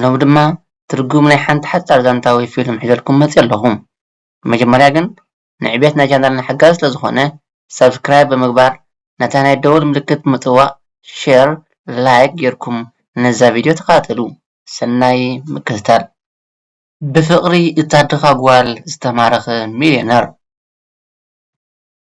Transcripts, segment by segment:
ሎሚ ድማ ትርጉም ናይ ሓንቲ ሓጻር ዛንታ ወይ ፊልም ሒዘልኩም መጺኤ ኣለኹ። ብመጀመርያ ግን ንዕብየት ናይ ቻነልና ሓጋዚ ስለ ዝኾነ ሳብስክራይብ ብምግባር ነታ ናይ ደወል ምልክት ብምጥዋቕ ሼር ላይክ ጌርኩም ነዛ ቪድዮ ተኸታተሉ። ሰናይ ምክትታል። ብፍቕሪ እታ ድኻ ጓል ዝተማረኸ ሚልዮነር።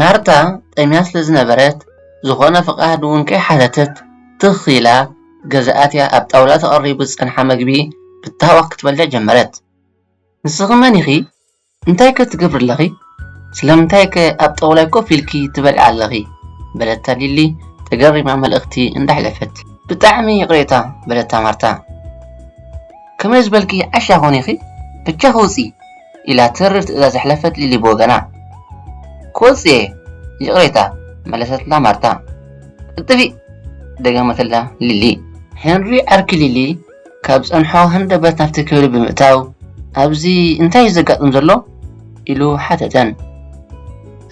ማርታ ጠምያ ስለ ዝነበረት ዝኾነ ፍቓድ እውን ከይሓተተት ትኽ ኢላ ገዛኣትያ ኣብ ጣውላ ተቐሪቡ ዝጸንሓ መግቢ ብታህዋኽ ክትበልዕ ጀመረት። ንስኺ መን ኢኺ? እንታይከ ትገብሪ ኣለኺ? ስለምንታይከ ኣብ ጣውላይ ኮፍ ኢልኪ ትበልዒ ኣለኺ? በለታ ሊሊ ተገሪማ መልእኽቲ እንዳሕለፈት። ብጣዕሚ ይቕሬታ በለታ ማርታ። ከመይ ዝበልኪ ዓሻ ኮን ኢኺ? ብጃኺ ውጺ! ኢላ ተሪር ትእዛዝ ኣሕለፈት ሊሊ ብወገና። ክወጽእ እየ ይቕሬታ መለሰትላ ማርታ። እጥፊእ! ደገመትላ ሊሊ። ሄንሪ ዓርኪ ሊሊ ካብ ዝጸንሖ ሃንደበት ናብቲ ክፍሊ ብምእታው፣ ኣብዚ እንታይ እዩ ዘጋጥም ዘሎ? ኢሉ ሓተተን።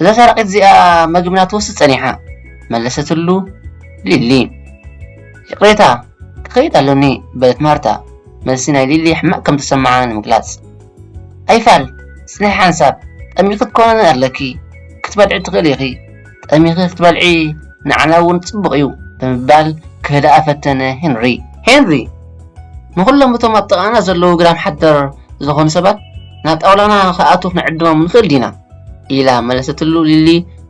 እዛ ሰራቒት እዚኣ መግብና ትወስድ ጸኒሓ፣ መለሰትሉ ሊሊ። ይቕሬታ፣ ክኸይድ ኣሎኒ፣ በለት ማርታ መልሲ ናይ ሊሊ ሕማቕ ከም እተሰምዓ ንምግላጽ። ኣይፋል፣ ጽንሒ ሓንሳብ፣ ጠሚኺ ክትኮነኒ ኣለኪ፣ ክትበልዒ ትኽእሊ ኢኺ፣ ጠሚኺ ክትበልዒ ንዓና እውን ጽቡቕ እዩ ብምባል ክህድኣ ፈተነ ሄንሪ። ሄንሪ፣ ንዅሎም እቶም ኣብ ጥቓና ዘለዉ ግዳም ሓደር ዝዀኑ ሰባት ናብ ጣውላና ክኣትዉ ክንዕድሞም ንኽእል ዲና? ኢላ መለሰትሉ ሊሊ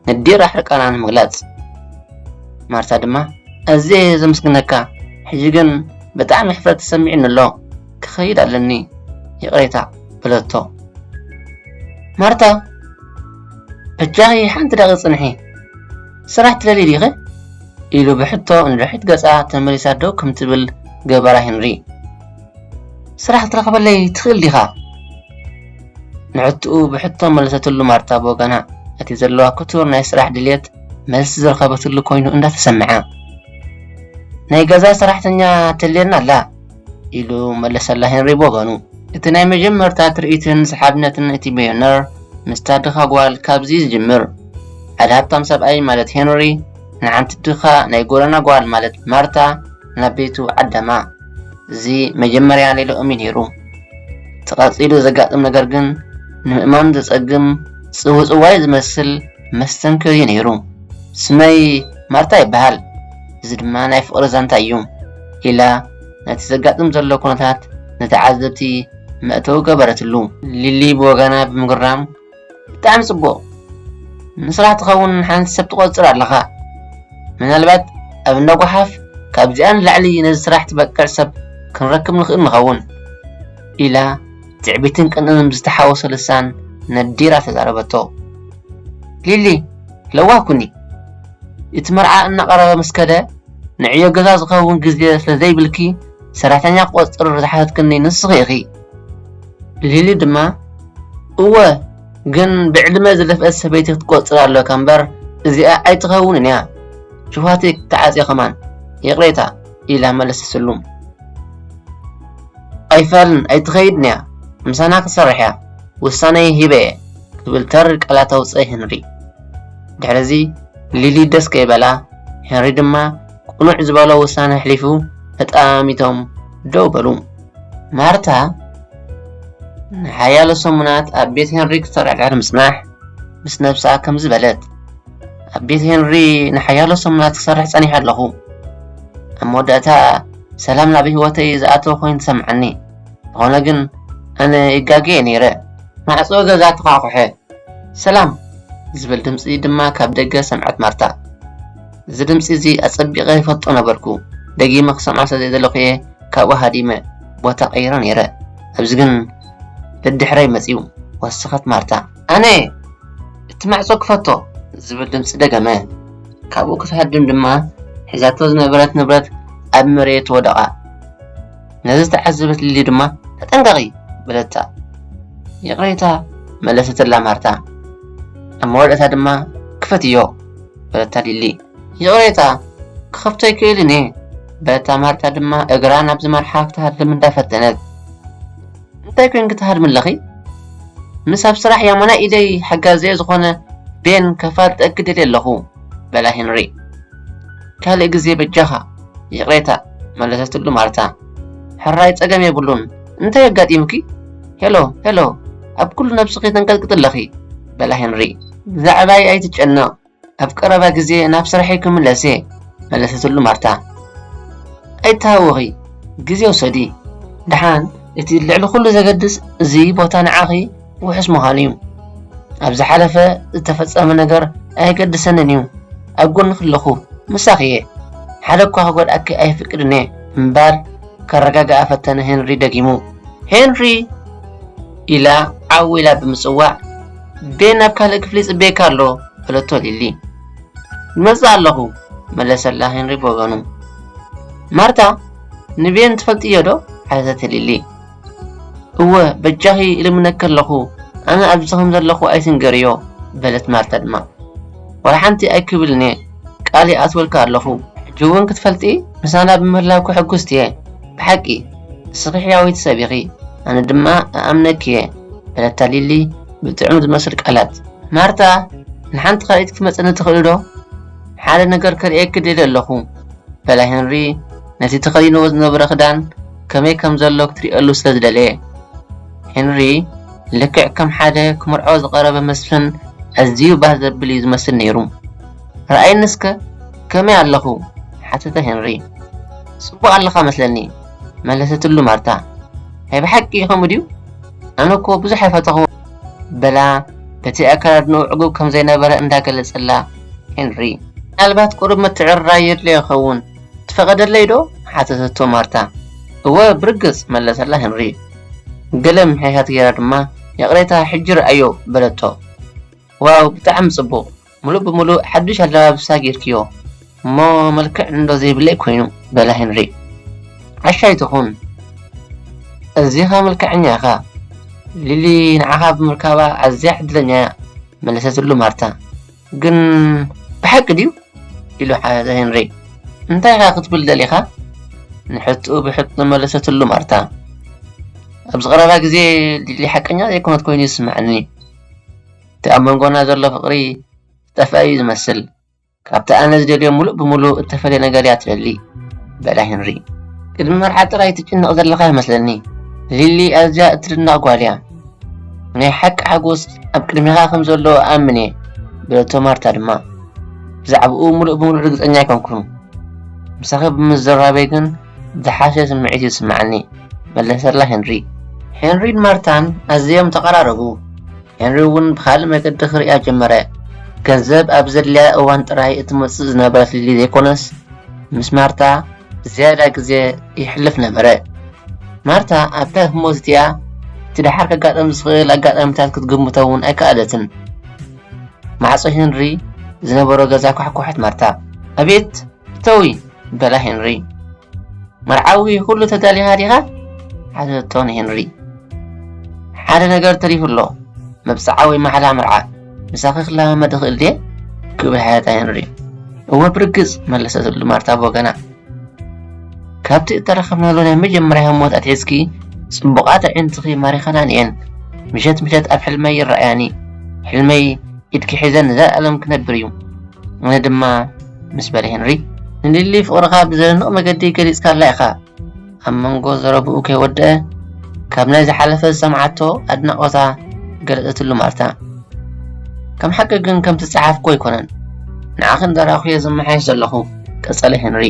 ነዲራ ሕርቃና ንምግላጽ። ማርታ ድማ፣ ኣዝየ እየ ዘመስግነካ፣ ሕጂ ግን ብጣዕሚ ሕፍረት ተሰሚዑኒ ኣሎ። ክኸይድ ኣለኒ ይቕሬታ በለቶ ማርታ በጃኺ ሓንቲ ደቒ ጽንሒ ስራሕ ትደልዪ ዲኺ ኢሉ ብሕቶ ንድሕሪት ገጻ ተመሊሳ ደው ከም ትብል ገበራ ሄንሪ ስራሕ ክትረኽበለይ ትኽእል ዲኻ ንዕትኡ ብሕቶ መለሰትሉ ማርታ ብወገና እቲ ዘለዋ ክቱር ናይ ስራሕ ድልየት መልሲ ዝረኸበትሉ ኮይኑ እንዳተሰምዐ ናይ ገዛ ሰራሕተኛ ተልየና ኣላ ኢሉ መለሰላ ሄንሪ ብወገኑ። እቲ ናይ መጀመርታ ትርኢትን ሰሓብነትን እቲ በዮነር ምስታ ድኻ ጓል ካብዚ ዝጅምር። ሓደ ሃብታም ሰብኣይ ማለት ሄንሪ ንሓንቲ ድኻ ናይ ጎደና ጓል ማለት ማርታ ናብ ቤቱ ዓደማ። እዚ መጀመርያ ሌላኦም እዩ ነይሩ። እቲ ቀጺሉ ዘጋጥም ነገር ግን ንምእማን ዘጸግም ጽውጽዋይ ዝመስል መስተንክር እዩ ነይሩ። ስመይ ማርታ ይበሃል፣ እዚ ድማ ናይ ፍቕሪ ዛንታ እዩ። ኢላ ነቲ ዘጋጥም ዘሎ ኩነታት ንተዓዘብቲ መእተዊ ገበረትሉ። ሊሊ ብወገና ብምግራም፣ ብጣዕሚ ጽቡቕ! ንስራሕ ትኸውን ንሓንቲ ሰብ ትቖጽር ኣለኻ። ምናልባት ኣብ እንዳ ጓሓፍ ካብዚኣ ንላዕሊ ነዚ ስራሕ ትበቅዕ ሰብ ክንረክብ ንኽእል ንኸውን፣ ኢላ ትዕቢትን ቅንእን ብዝተሓወሶ ልሳን ነዲራ ተዛረበቶ። ሊሊ፣ ለዋህ ኩኒ! እቲ መርዓ እናቐረበ ምስ ከደ፣ ንዕዮ ገዛ ዝኸውን ግዜ ስለ ዘይብልኪ ሰራሕተኛ ክቖጽር ዝሓተትክኒ ንስኺ ኢኺ። ሊሊ ድማ፣ እወ፣ ግን ብዕድመ ዝደፍእት ሰበይቲ ክትቆጽር ኣሎካ እምበር እዚኣ ኣይትኸውንን እያ፣ ሽውሃተይ ክትዓጽዮ ከማን ይቕሬታ፣ ኢላ መለሰትሉ። ኣይፋልን፣ ኣይትኸይድን እያ፣ ምሳና ክትሰርሕ እያ፣ ውሳነይ ሂበ እየ፣ ክብል ተሪር ቃላት ኣውጽኣ ሄንሪ። ድሕሪ እዚ ሊሊ ደስ ከይበላ ሄንሪ ድማ ቅኑዕ ዝበሎ ውሳነ ኣሕሊፉ ተጠማሚቶም ደው በሉ። ማርታ ንሓያሎ ሰሙናት ኣብ ቤት ሄንሪ ክትሰርዕርዕር ምጽናሕ ምስ ነብሳ ከምዚ በለት ኣብ ቤት ሄንሪ ንሓያሎ ሰሙናት ክሰርሕ ጸኒሐ ኣለኹ ኣብ መወዳእታ ሰላም ናብ ህይወተይ ዝኣተወ ኮይኑ ተሰምዓኒ ዝኾነ ግን ኣነ ይጋገየ ነይረ ማዕጾ ገዛ ተዃኹሐ ሰላም! ዝብል ድምጺ ድማ ካብ ደገ ሰምዐት ማርታ። እዚ ድምጺ እዚ ኣጸቢቐ ይፈልጦ ነበርኩ፣ ደጊመ ክሰምዖ ስለ ዘይደለኹ እየ ካብኡ ሃዲመ ቦታ ቀይረ ነይረ፣ ኣብዚ ግን ደድሕረይ መጺኡ። ወሰኸት ማርታ። ኣነ! እቲ ማዕጾ ክፈቶ! ዝብል ድምጺ ደገመ። ካብኡ ክትሃድም ድማ ሒዛቶ ዝነበረት ንብረት ኣብ መሬት ወደቐ። ነዚ ዝተዓዘበት ሊሊ ድማ ተጠንቀቒ በለታ። ይቕሬታ መለሰትላ ማርታ። ኣብ መወዳእታ ድማ ክፈትዮ በለታ ሊሊ። ይቕሬታ ክኸፍቶ ኣይክእልን እየ በለታ ማርታ ድማ እግራ ናብ ዝመርሓ ክትሃድም እንዳፈተነት። እንታይ ኮንኪ ትሃድሚ ኣለኺ? ምስ ኣብ ስራሕ ያሞና ኢደይ ሓጋዘየ ዝኾነ ቤን ከፋልጠኪ ደልየ ኣለኹ በላ ሄንሪ። ካልእ ግዜ በጃኻ ይቕሬታ፣ መለሰትሉ ማርታ። ሕራይ ጸገም የብሉን፣ እንታይ ኣጋጢሙኪ? ሄሎ፣ ሄሎ፣ ኣብ ኩሉ ነብስኺ ተንቀጥቅጢ ኣለኺ፣ በላ ሄንሪ። ብዛዕባይ ኣይትጨነቕ፣ ኣብ ቀረባ ግዜ ናብ ስራሕይ ክምለስ እየ፣ መለሰትሉ ማርታ። ኣይትሃወኺ፣ ግዜ ውሰዲ። ደሓን፣ እቲ ልዕሊ ኩሉ ዘገድስ እዚ ቦታ ንዓኺ ውሑስ ምዃኑ እዩ። ኣብ ዝሓለፈ ዝተፈጸመ ነገር ኣየገድሰንን እዩ። ኣብ ጎንኺ ኣለኹ፣ ምሳኺ እየ፣ ሓደ እኳ ክጎድኣኪ ኣይፍቅድን እየ እምባር ከረጋግኣ ፈተነ ሄንሪ ደጊሙ። ሄንሪ! ኢላ ዓው ኢላ ብምጽዋዕ፣ ቤን ኣብ ካልእ ክፍሊ ይጽበየካ ኣሎ፣ በለቶ ሊሊ። ይመጽእ ኣለኹ፣ መለሰላ ሄንሪ ብወገኑ። ማርታ፣ ንቤን ትፈልጥዮ ዶ? ሓተተቲ ሊሊ። እወ በጃኺ እልምነኪ ኣለኹ፣ ኣነ ኣብዚ ኸም ዘለኹ ኣይትንገርዮ፣ በለት ማርታ ድማ። ዋላ ሓንቲ ኣይክብልን እየ፣ ቃል ይኣትወልኪ ኣለኹ። ሕጂ እውን ክትፈልጢ ምሳና ብምህላውኪ ሕጉስቲ እየ፣ ብሓቂ ንስኺ ሕያወይቲ ሰብ ኢኺ፣ ኣነ ድማ እኣምነኪ እየ፣ በለታ ሊሊ ብጥዑም ዝመስል ቃላት። ማርታ፣ ንሓንቲ ካልኢት ክትመጸኒ ትኽእሊዶ? ሓደ ነገር ከርእየኪ ደልየ ኣለኹ፣ በላ ሄንሪ ነቲ ተኸዲንዎ ዝነበረ ክዳን ከመይ ከም ዘሎ ክትርእየሉ ስለ ዝደለየ። ሄንሪ ልክዕ ከም ሓደ ክምርዖ ዝቐረበ መስፍን ኣዝዩ ባህ ዘብል እዩ ዝመስል ነይሩ። ርኣየኒ እስከ ከመይ ኣለኹ? ሓተተ ሄንሪ። ጽቡቕ ኣለኻ መስለኒ፣ መለሰትሉ ማርታ። ናይ ብሓቂ ከምኡ ድዩ? ኣነ እኮ ብዙሕ ኣይፈተኹዎን። በላ በቲ ኣከዳድንኡ ዕጉብ ከም ዘይነበረ እንዳ ገለጸላ። ሄንሪ። ምናልባት ቁሩብ ምትዕርራይ የድልዮ ይኸውን። ትፈቐደለይዶ? ሓተተቶ ማርታ። እወ፣ ብርግጽ፣ መለሰላ ሄንሪ። ገለ ምሕያት ገይራ ድማ፣ ይቕሬታ፣ ሕጂ ርኣዮ፣ በለቶ። ዋው፣ ብጣዕሚ ጽቡቕ! ምሉእ ብምሉእ ሓድሽ ኣለባብሳ ገይርክዮ እሞ መልክዕ'ንዶ ዘይብለይ ኰይኑ፣ በላ ሄንሪ። ዓሻ ኣይትኹን፣ ኣዚኻ መልክዐኛ ኢኻ። ሊሊ ንዓኻ ብምርካባ ኣዝያ ዕድለኛ'ያ፣ መለሰትሉ ማርታ። ግን ብሓቂ ድዩ? ኢሉ ሓተተ ሄንሪ። እንታይ ኢኻ ክትብል ደሊኻ? ንሕትኡ ብሕቶ መለሰትሉ ማርታ። ኣብዚ ቀረባ ግዜ ሊሊ ሓቀኛ ዘይኮነት ኮይኑ ይስምዓኒ። እቲ ኣብ መንጎና ዘሎ ፍቕሪ ዝጠፍኣ እዩ ዝመስል። ካብቲ ኣነ ዝደልዮ ምሉእ ብምሉእ እተፈልየ ነገር እያ ትደሊ በላ ሄንሪ። ቅድሚ መርዓ ጥራይ ትጭነቕ ዘለኻ ይመስለኒ። ሊሊ ኣዝያ እትድነቕ ጓል እያ። ናይ ሓቂ ሓጎስ ኣብ ቅድሜኻ ከም ዘሎ እኣምን እየ በለቶ ማርታ ድማ ብዛዕባኡ ምሉእ ብምሉእ ርግጸኛ ኣይኮንኩን ምሳኺ ብምዝራበይ ግን ዝሓሸ ስምዒት እዩ ዝስምዓኒ መለሰላ ሄንሪ ሄንሪን ማርታን ኣዝዮም ተቐራረቡ ሄንሪ እውን ብካልእ መገዲ ክርእያ ጀመረ ገንዘብ ኣብ ዘድልያ እዋን ጥራይ እትመጽእ ዝነበረት ሊሊ ዘይኮነስ ምስ ማርታ ዝያዳ ግዜ የሕልፍ ነበረ። ማርታ ኣብታ ህሞት እቲኣ እቲ ደሓር ከጋጥም ዝኽእል ኣጋጣሚታት ክትግምቶ እውን ኣይከኣለትን። ማዕጾ ሄንሪ ዝነበሮ ገዛ ኳሕኳሐት ማርታ። ኣቤት እተዊ በላ ሄንሪ። መርዓዊ ኩሉ ተዳሊኻ ዲኻ? ሓተቶ ንሄንሪ። ሓደ ነገር ተሪፉ ኣሎ፣ መብጽዓ ወይ ማሕላ መርዓ። ምሳኺ ክለማመድ እኽእል ድየ? ክብል ሓያጣ ሄንሪ እወ ብርግጽ መለሰትሉ ማርታ ብወገና ካብቲ እተረኸብናሉ ናይ መጀመርያ ህሞት ኣትሒዝኪ ጽቡቓት ኣዒንትኺ ማሪኸናን እየን ምሸት ምሸት ኣብ ሕልመይ ይረኣያኒ ሕልመይ ኢድኪ ሒዘን ንዘለኣለም ክነብር እዩ ኣነ ድማ ምስ በለ ሄንሪ ንሊሊ ፍቕርኻ ብዘደንቕ መገዲ ገሊጽካላ ኢኻ ኣብ መንጎ ዘረብኡ ከይወደአ ካብ ናይ ዝሓለፈ ዝሰምዓቶ ኣድናቖታ ገለጸትሉ ማርታ ከም ሓቂ ግን ከምቲ ዝጸሓፍኩ ኣይኮነን ንዓኺ እንዳራኹየ ዝመሓየሽ ዘለኹ ቀጸለ ሄንሪ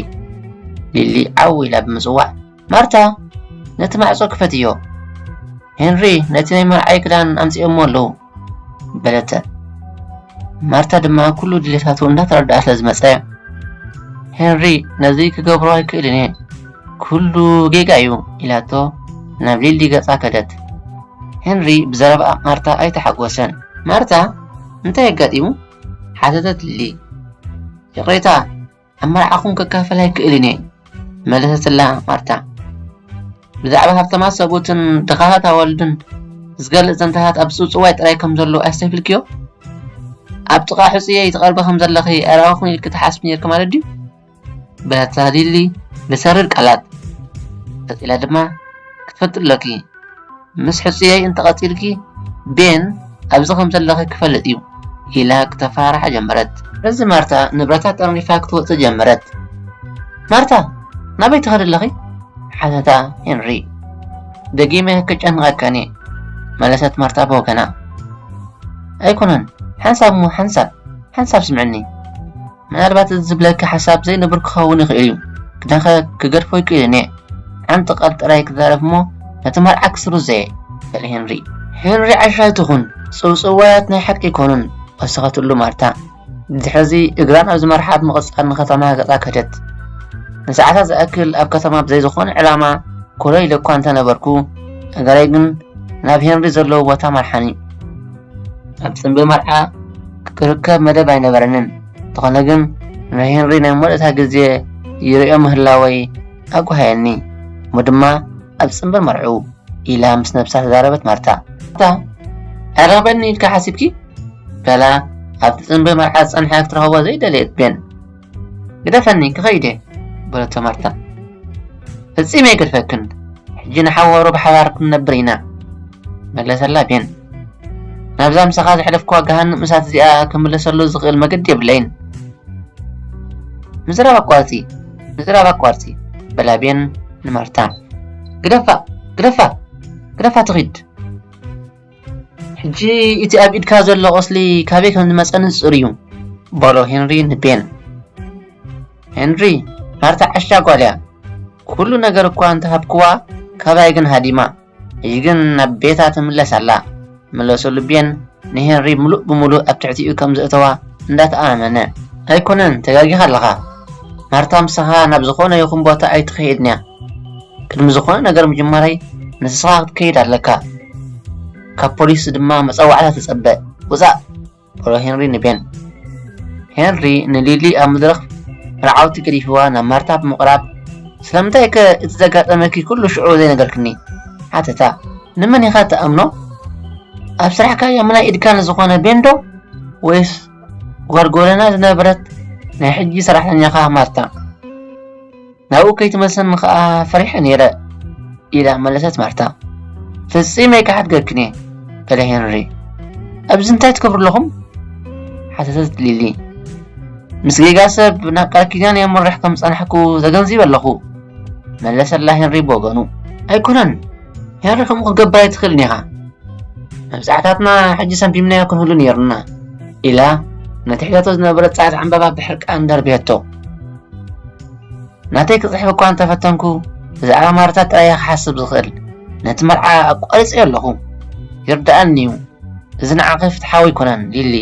ሊሊ ዓው ኢላ ብምጽዋዕ ማርታ ነቲ ማዕጾ ክፈትዮ ሄንሪ ነቲ ናይ መርዓይ ክዳን ኣምጺኦሞ ኣለዉ በለተ ማርታ ድማ ኩሉ ድሌታቱ እንዳተረድኣ ስለ ዝመጸ ሄንሪ ነዚ ክገብሮ ኣይክእልን እየ ኩሉ ጌጋ እዩ ኢላቶ ናብ ሊሊ ገጻ ከደት ሄንሪ ብዘረባ ማርታ ኣይተሓጎሰን ማርታ እንታይ ኣጋጢሙ ሓተተት ሊሊ ይቕሬታ ኣብ መርዓኹም ክካፈል ኣይክእልን እየ መለሰትላ ማርታ። ብዛዕባ ሃብታማት ሰብኡትን ድኻታት ኣዋልድን ዝገልጽ ዘንታታት ኣብ ጽውጽዋይ ጥራይ ከም ዘሎ ኣስተብሂልክዮ? ኣብ ጥቓ ሕጹየይ ትቐርቢ ከም ዘለኺ ኣይረኣኹን ኢልኪ ትሓስቢ ነይርኪ ማለት ድዩ? በለታ ሊሊ ብሰሪር ቃላት። ቀጺላ ድማ ክትፈልጢ ኣሎኪ ምስ ሕጹየይ እንተ ቐጺልኪ ቤን ኣብዚ ከም ዘለኺ ክፈልጥ እዩ ኢላ ክተፈራርሓ ጀመረት። እዚ ማርታ ንብረታ ጠርኒፋ ክትወጽእ ጀመረት። ማርታ ናበይ ትኸዲ ኣለኺ? ሓተታ ሄንሪ። ደጊመ ክጨንቐከን እየ መለሰት ማርታ ብወገና። ኣይኮነን ሓንሳብ እሞ ሓንሳብ ሓንሳብ ስምዕኒ ምናልባት እዚ ዝብለኪ ሓሳብ ዘይንቡር ክኸውን ይኽእል እዩ ግናኸ ክገድፎ ይክእልን እየ ሓንቲ ቃል ጥራይ ክዛረብ እሞ ነቲ መርዓ ክስሩ ዘየ በለ ሄንሪ ሄንሪ ዓሻይ ትኹን ጽውጽዋያት ናይ ሓቂ ኣይኮኑን ወሰኸትሉ ማርታ ድሕዚ እግራ ናብ ዝመርሓ ብምቕጻል ንከተማ ገጻ ከደት ንሰዓታት ዝኣክል ኣብ ከተማ ብዘይ ዝኾነ ዕላማ ኮለይ ኢለ እኳ እንተነበርኩ እገረይ ግን ናብ ሄንሪ ዘለዎ ቦታ መርሓኒ ኣብ ጽምቢ መርዓ ክርከብ መደብ ኣይነበረንን፣ እንተኾነ ግን ናይ ሄንሪ ናይ መወዳእታ ግዜ ይርእዮ ምህላወይ ኣጓህየኒ። እሞ ድማ ኣብ ጽምቢ መርዕኡ ኢላ ምስ ነብሳ ተዛረበት ማርታ። ማርታ ኣይረኽበኒ ኢልኪ ሓሲብኪ? በላ ኣብቲ ጽምቢ መርዓ ዝጸንሐ ክትረኽቦ ዘይደለየት ቤን። ግደፈኒ ክኸይድ እየ በለቶ ማርታ ፈጺመ ኣይገድፈክን ሕጂ ንሓዋሩ ብሓባር ክንነብር ኢና መለሰላ ቤን ናብዛ ምሳኻ ዘሕለፍክዋ ገሃንም እሳት እዚኣ ክምለሰሉ ዝኽእል መገዲ የብለይን ምዝራብ ኣቋርፂ ምዝራብ ኣቋርፂ በላ ቤን ንማርታ ግደፋ ግደፋ ግደፋ ትኺድ ሕጂ እቲ ኣብ ኢድካ ዘሎ ቁስሊ ካበይ ከም ዝመጸ ንጹር እዩ በሎ ሄንሪ ንቤን ሄንሪ ማርታ ዓሻ ጓል እያ ኩሉ ነገር እኳ እንተሃብክዋ ካባይ ግን ሃዲማ ሕጂ ግን ናብ ቤታ ትምለስ ኣላ መለሰሉ ቤን ንሄንሪ ምሉእ ብምሉእ ኣብ ትሕቲኡ ከም ዘእተዋ እንዳተኣማመነ ኣይኮነን ተጋጊኻ ኣለኻ ማርታ ምሳኻ ናብ ዝኾነ ይኹን ቦታ ኣይትኸይድን እያ ቅድሚ ዝኾነ ነገር ምጅማረይ ንስኻ ክትከይድ ኣለካ ካብ ፖሊስ ድማ መፀዋዕታ ተፀበ ውፃእ በሎ ሄንሪ ንቤን ሄንሪ ንሊሊ ኣብ መድረኽ መርዓውቲ ገዲፍዋ ናብ ማርታ ብምቕራብ ስለምንታይ ከ እቲ ዘጋጠመኪ ኩሉ ሽዑ ዘይነገርክኒ ሓተታ ንመን ኢኻ ተኣምኖ ኣብ ስራሕካ የምናይ ኢድካ ንዝኾነ ቤንዶ ወይስ ጓል ጎደና ዝነበረት ናይ ሕጂ ሰራሕተኛኻ ማርታ ናብኡ ከይትመልሰኒ ኸኣ ፈሪሐ ነይረ ኢላ መለሰት ማርታ ፍጺመ ኣይክሓድገክን እየ በለ ሄንሪ ኣብዚ እንታይ ትገብሩ ኣለኹም ሓተተት ሊሊ ምስ ጌጋ ሰብ ናብ ቃል ኪዳን የምርሕ ከም ዝጸናሕኩ ተገንዚበ ኣለኹ መለሰላ ሄንሪ ብወገኑ ኣይኮነን ያረ ከምኡ ክትገብር ኣይትኽእልን ኢኻ መብዛሕታትና ሕጂ ሰንፊምናዮ ክንህሉ ነይሩና ኢላ ነቲ ሒዛቶ ዝነበረት ጻዕዳ ዕምባባ ብሕርቃን ደርብየቶ ናተይ ክጽሕፍ እኳ እንተፈተንኩ ብዛዕባ ማርታ ጥራይ ክሓስብ ዝኽእል ነቲ መርዓ ኣቋሪጸዮ ኣለኹ ይርድኣኒ እዩ እዚ ንዓኺ ፍትሓዊ ኣይኮነን ሊሊ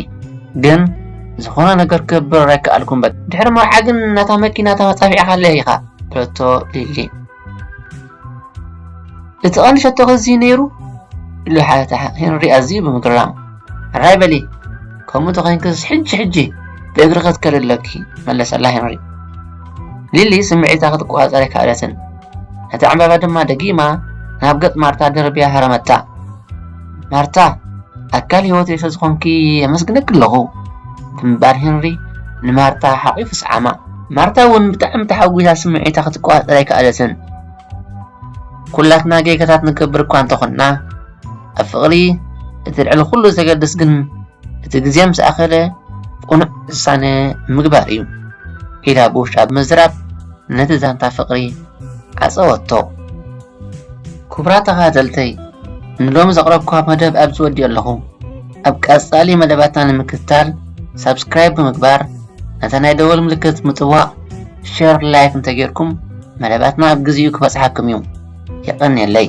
ግን ዝኾነ ነገር ክገብር ኣይከኣልኩም በ ድሕሪ መርዓ ግን ናታ መኪና ተመጻፊዕኻ ኣለይ ኢኻ በለቶ ሊሊ እቲ ቐንዲ ሸቶኺ እዚ ነይሩ ኢሉ ሓተታ ሄንሪ ኣዝዩ ብምግራም ሕራይ በሊ ከምኡ ተኸይንክስ ሕጂ ሕጂ ብእግሪ ክትከድ ኣለኪ መለሰላ ሄንሪ ሊሊ ስምዒታ ክትቆፃፀር ኣይከኣለትን ነቲ ዕምባባ ድማ ደጊማ ናብ ገፅ ማርታ ደርብያ ሃረመታ ማርታ ኣካል ህይወተይ ስለዝኾንኪ የመስግነኪ ኣለኹ ብምባል ሄንሪ ንማርታ ሓቒፉ ሰዓማ ማርታ እውን ብጣዕሚ ተሓጒሳ ስምዒታ ክትቆፃፀር ኣይከኣለትን ኩላትና ጌጋታት ንገብር እኳ እንተኾንና ኣብ ፍቕሪ እቲ ልዕሊ ኩሉ ዘገድስ ግን እቲ ግዜ ምስ ኣኸለ ቁኑዕ ውሳነ ምግባር እዩ ኢላ ብውሽጣ ብምዝራብ ነቲ ዛንታ ፍቕሪ ዓፀወቶ ክቡራት ተኸታተልተይ ንሎሚ ዘቕረብኩዋ መደብ ኣብዚ ወዲኦ ኣለኹ ኣብ ቀጻሊ መደባትና ንምክትታል ሳብስክራይብ ብምግባር ነታ ናይ ደወል ምልክት ምጥዋቕ ሸር ላይክ እንተጌርኩም መደባትና ኣብ ግዜኡ ክበጽሓኩም እዩ የቐንየለይ